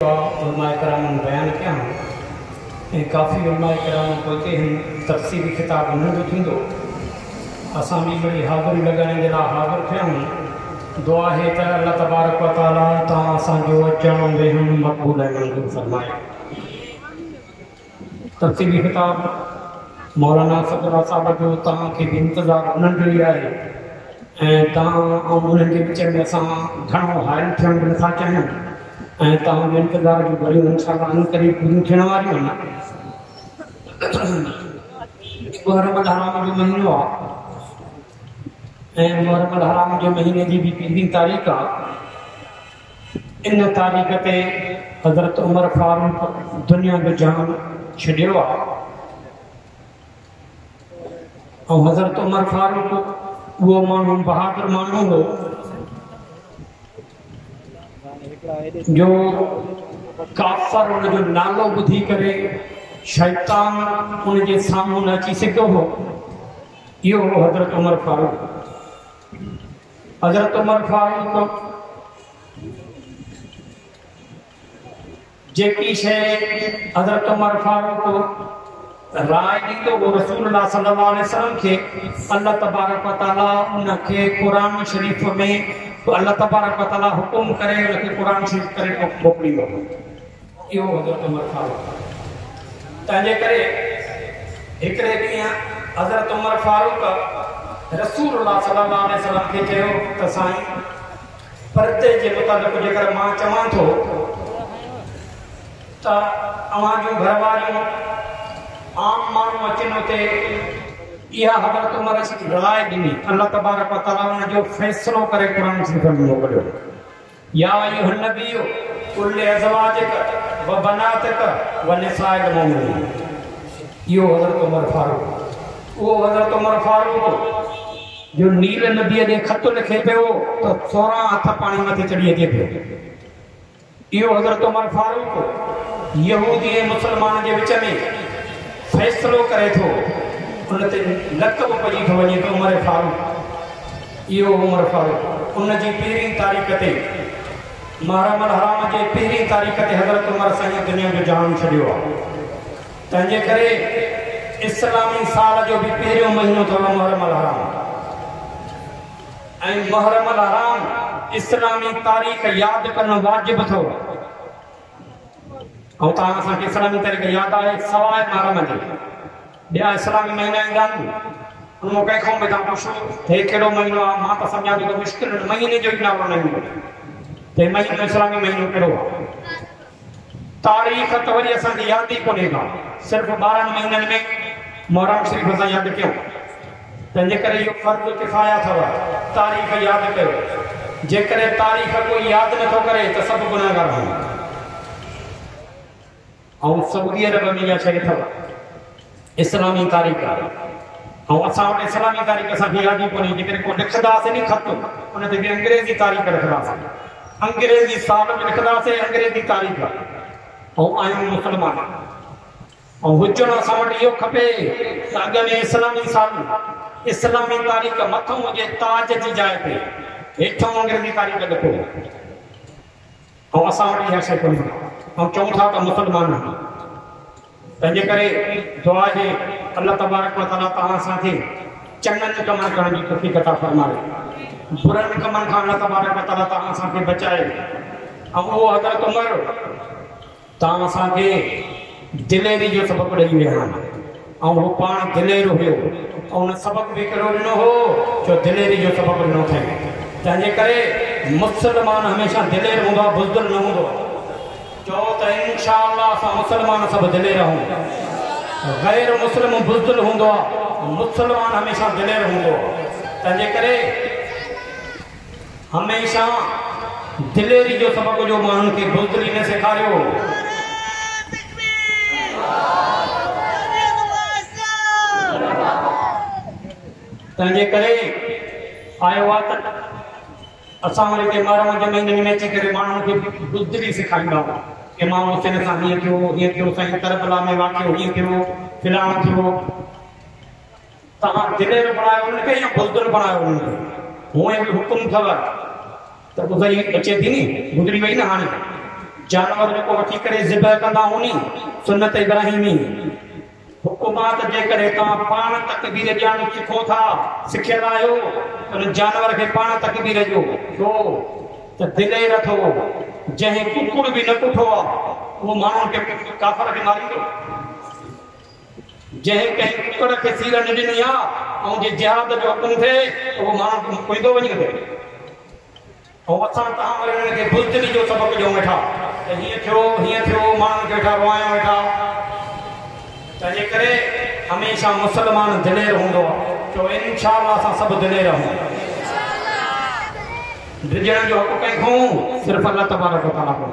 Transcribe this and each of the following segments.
ڪا علماء ڪرامن بيان ڪيا آهن ۽ ڪافي علماء ڪرام پوئتي هن تفسيري خطاب انهن جو ٿيندو اسان به وڏي حاضري لڳائڻ جي لاء حاضر ٿيا آهيون دعا آهي ته الله تبارڪ و تعالي تان اسان جو اچڻ ويهڻ مقبول ۽ منظور فرمائي ترتيبي خطاب، مولانا اسد الله صاحب جو توهان کي به انتظار انهن جو ئي آهي ۽ توهان ۽ انهن جي وچ ۾ اسان گهڻو حائل ٿيڻ به نٿا چاهيون ۽ توهان جي انتظار جون گهڙيون انشاء الله عن قريب پوريون ٿيڻ واريون آهن. محرم الحرام جو مهينو آ ۽ محرم الحرام جو مهيني جي به پنجين تاريخ آ ان تاريخ تي حضرت عمر فاروق دنيا جو جهان ڇڏيو آهي ۽ حضرت عمر فاروق اهو ماڻهو بهادر ماڻهو هو جو ڪافر ان جو نالو ٻڌي ڪري شيطان ان جي سامهون نه اچي سگهيو هو اهو هو حضرت عمر فاروق حضرت عمر فاروق جيڪي شيء حضرت عمر فاروق رائے ڏيندو هو رسول الله صلي الله عليه وسلم کي الله تبارڪ وتعالى ان کي قرآن شريف ۾ الله تبارڪ وتعالى حڪم ڪري ان کي قرآن شريف ڪري موڪليندو هو اهو حضرت عمر فاروق آهي تنهنجي ڪري هڪڙي ڏينهن حضرت عمر فاروق رسول الله صلي الله عليه وسلم کي چيو ته سائين پردي جي متعلق جيڪر مان چوان ٿو ته اوهان جون گهر واريون عام ماڻهو اچن اتي اها حضرت عمر راء ڏني الله تبارڪ وتعالي ان جو فيصلو ڪري قرآن شريف ۾ موڪليو يا ايها النبي قل لازواجک وبناتک ونساء المؤمنين اهو حضرت عمر فاروق اهو حضرت عمر فاروق جو نيل نبي ڏي خط لکي پيو ته 16 هٿ پاڻي مٿي چڙهي اچي پيو اهو حضرت عمر فاروق يهودي ۽ مسلمان جي وچ ۾ فيصلو ڪري ٿو ان تي لقب پئجي ٿو وڃي ته عمر فاروق اهو عمر فاروق ان جي پهرين تاريخ تي محرم الحرام جي پهرين تاريخ تي حضرت عمر سائين دنيا جو جهان ڇڏيو آهي تنهنجي ڪري اسلامي سال جو به پهريون مهينو اٿو محرم الحرام ۽ محرم الحرام اسلامي تاريخ ياد ڪرڻ واجب اٿو ۽ تان اسان کي اسلامي تاريخ ياد آهي سواء محرم جي ٻيا اسلامي مهينا ايندا آهن ان مان ڪنهن قوم کان پڇو ته هي ڪهڙو مهينو آهي مان ته سمجهان ٿو ته مشڪل ان مهيني جو ئي نالو نه ايندو ته هي مهينو اسلامي مهينو ڪهڙو آهي تاريخ ته وري اسان کي ياد ئي ڪونهي ڪا صرف ٻارهن مهينن ۾ محرم شريف اسان ياد ڪيو تنهنجي ڪري اهو فرض ڪفايه اٿو تاريخ ياد ڪيو جيڪڏهن تاريخ ڪوئي ياد نٿو ڪري ته سڀ گناهگار هوندا ائون سعودي عرب ۾ اها شيء اٿو اسلامي تاريخ آهي ۽ اسان وٽ اسلامي تاريخ اسان کي ياد ئي ڪونهي جيڪڏهن ڪو لکنداسي ني خط ان تي به انگريزي تاريخ لکنداسي انگريزي سال ۾ لکنداسي انگريزي تاريخ او آيون مسلمان او هجڻ اسان وٽ اهو کپي ته اڳ ۾ اسلامي سال اسلامي تاريخ مٿو هجي تاج جي جاء تي هيٺ انگريزي تاريخ لکو ۽ اسان وٽ اها شيء ڪونهي. آئون چئون ٿا ته مسلمان آهيون. تنهنجي ڪري دعا آهي الله تبارڪ و تعاليٰ توهان سان کي چڱن ڪمن ڪرڻ جي توفيق عطا فرمائي. برن ڪمن کان الله تبارڪ و تعاليٰ توهان سان کي بچائي ۽ اهو حضرت عمر تان اسان کي دليري جو سبق ڏئي ويا آهن ۽ هو پاڻ دلير هيو ۽ هن سبق به ڪهڙو ڏنو هو جو دليري جو سبق ڏنو اٿئين تنهنجي ڪري مسلمان هميشه دلير هوندو آهي بزدل نه هوندو آهي چئو ته انشاء الله اسان مسلمان سڀ دلير آهون غير مسلم بزدل هوندو آهي مسلمان هميشه دلير هوندو آهي تنهنجي ڪري هميشه دليري جو سبق جو ماڻهن کي بزدلي نه سيکاريو هو. تنهن جي ڪري آيو آ ته اسان وري ڪي مارا منجهه مهينن ۾ اچي ڪري ماڻهن کي بزدلي سيکاريندا هئا. امام حسين سان هيئن ٿيو، هيئن ٿيو، سائين ڪربلا ۾ واقعو هيئن ٿيو، فلاڻو ٿيو. توهان دلير بڻايو انهن کي يا بزدل بڻايو انهن کي. هونئن به حڪم اٿو ته ٻڌڻي اچي ٿي ني. گذري وئي نه هاڻي. جانور جيڪو وٺي ڪري ذبح ڪندا هوني سنت ابراهيمي. حڪمات جيڪڏهن توهان پاڻ تڪبير ڏيڻ سکو ٿا، سکيل آهيو ته ان جانور کي پاڻ تڪبير ڏيو. ڇو ته دلير اٿو. جنهن ڪڪڙ به نه ڪٺو آهي اهو ماڻهن کي ڪافر کي ماريندو. جنهن ڪنهن ڪڪڙ کي سير نه ڏني آ، ۽ جي جهاد جو حڪم ٿئي ته اهو ماڻهو ڪم ڪوئيندو وڃي ڪري. ۽ اسان تان وري انهن کي بزدلي جو سبق ڏيون ويٺا ته هيئن ٿيو، هيئن ٿيو، ماڻهن کي ويٺا روئايون ويٺا. تنهنجي ڪري هميشه مسلمان دلير هوندو آ. چئو انشاء الله اسان سڀ دلير آهيون. ڊڄڻ جو حق ڪنهن کان؟ صرف الله تبارڪ و تعاليٰ کان.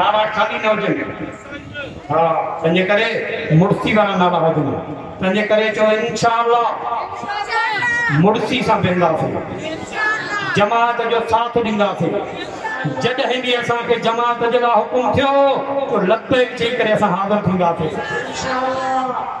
نالا خالي نه هجن ها تنهنجي ڪري مڙسي وارا نالا هجن تنهنجي ڪري چو انشاء الله مڙسي سان بيهنداسين جماعت جو ساٿ ڏينداسين جڏهن به اسان کي جماعت جي لاء حڪم ٿيو تو لبيڪ چئي ڪري اسان حاضر ٿينداسين انشاء الله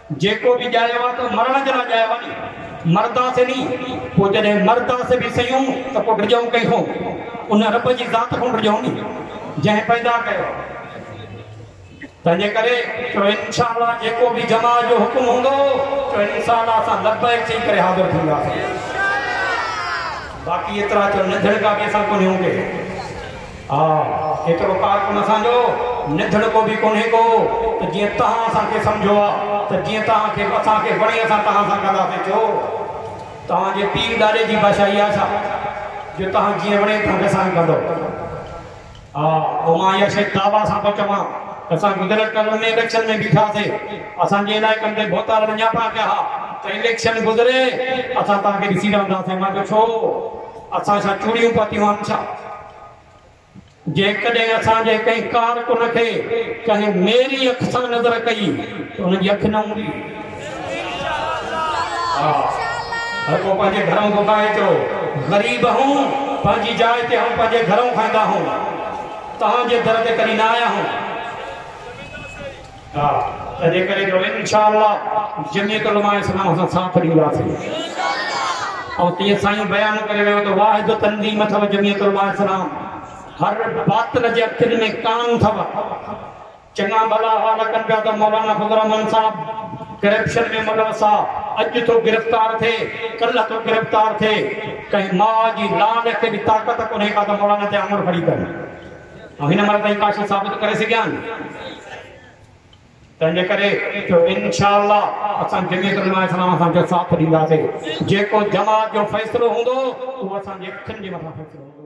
جيڪو به ڄايو آ ته مرڻ جي لاء ڄايو آ ني مرداسين ني پوء جڏهن مرداسين به سيون ته پوء ڊڄون ڪنهن کون ان رب جي ذات کون ڊڄون ني جنهن پيدا ڪيو آ تنهنجي ڪري چئو انشاء الله جيڪو به جماع جو حڪم هوندو چئو انشاء الله اسان لبيڪ چئي ڪري حاضر ٿينداسين باقي ايترا چئو ننڌڻڪا به اسان ڪونهيون ڪي. آ، ايترو ڪارڪن اسان جو نڌڻڪو به ڪونهي ڪو ته جيئن تهان اسان کي سمجهو آ ته جيئن تهان کي اسان کي وڻي اسان تهان سان ڪنداسين ڇو تهان جي پيء ڏاڏي جي بادشاهي آ ڇا جو تهان جيئن وڻي تهان کي سائين ڪندو آ پوء مان اها شيء دعويٰ سان ٿو چوان ته اسان گذريل ٽرم ۾ اليڪشن ۾ بيٺا سي اسان جي علائقن تي ڀوتار وڃاپا ڪيا ها ته اليڪشن گذري اسان تهان کي ڏسي رهنداسين مان چيو ڇو اسان ڇا چوڙيون پاتيون آهن ڇا؟ جيڪڏهن اسان جي ڪنهن ڪارڪن کي ڪنهن ميري اک سان نظر ڪئي ته ان جي اک نه هوندي. ها هر ڪو پنهنجي گهرئون ڀوڳائي ٿو. غريب هون پنهنجي جاء تي هون پنهنجي گهرئون کائيندا هون. توهان جي در تي ڪڏهن نه آيا هون. ها تنهنجي ڪري جو انشاء الله جميعت علماء اسلام سان ساٿ ڏينداسين ۽ تيئن سائين بيان ڪري ويو ته واحد تنظيم اٿو جميعت علماء اسلام هر باطل جي اکين ۾ ڪان اٿو چڱا ڀلا حال ڪن پيا ته مولانا فضل الرحمان صاحب ڪرپشن ۾ ملوثا اڄ ٿو گرفتار ٿئي ڪل ٿو گرفتار ٿئي ڪنهن ماء جي لاڏ کي به طاقت ڪونهي ڪا ته مولانا تي آمر کڙي ڪن ۽ هن مهل تائين ڪاشي ثابت ڪري سگهيا آهن. تنهنجي ڪري جو انشاء الله اسان جميعت علماء اسلام سان جو ساٿ ڏينداسين. جيڪو جماعت جو فيصلو هوندو اهو اسان جي اکين جي مٿان فيصلو هوندو.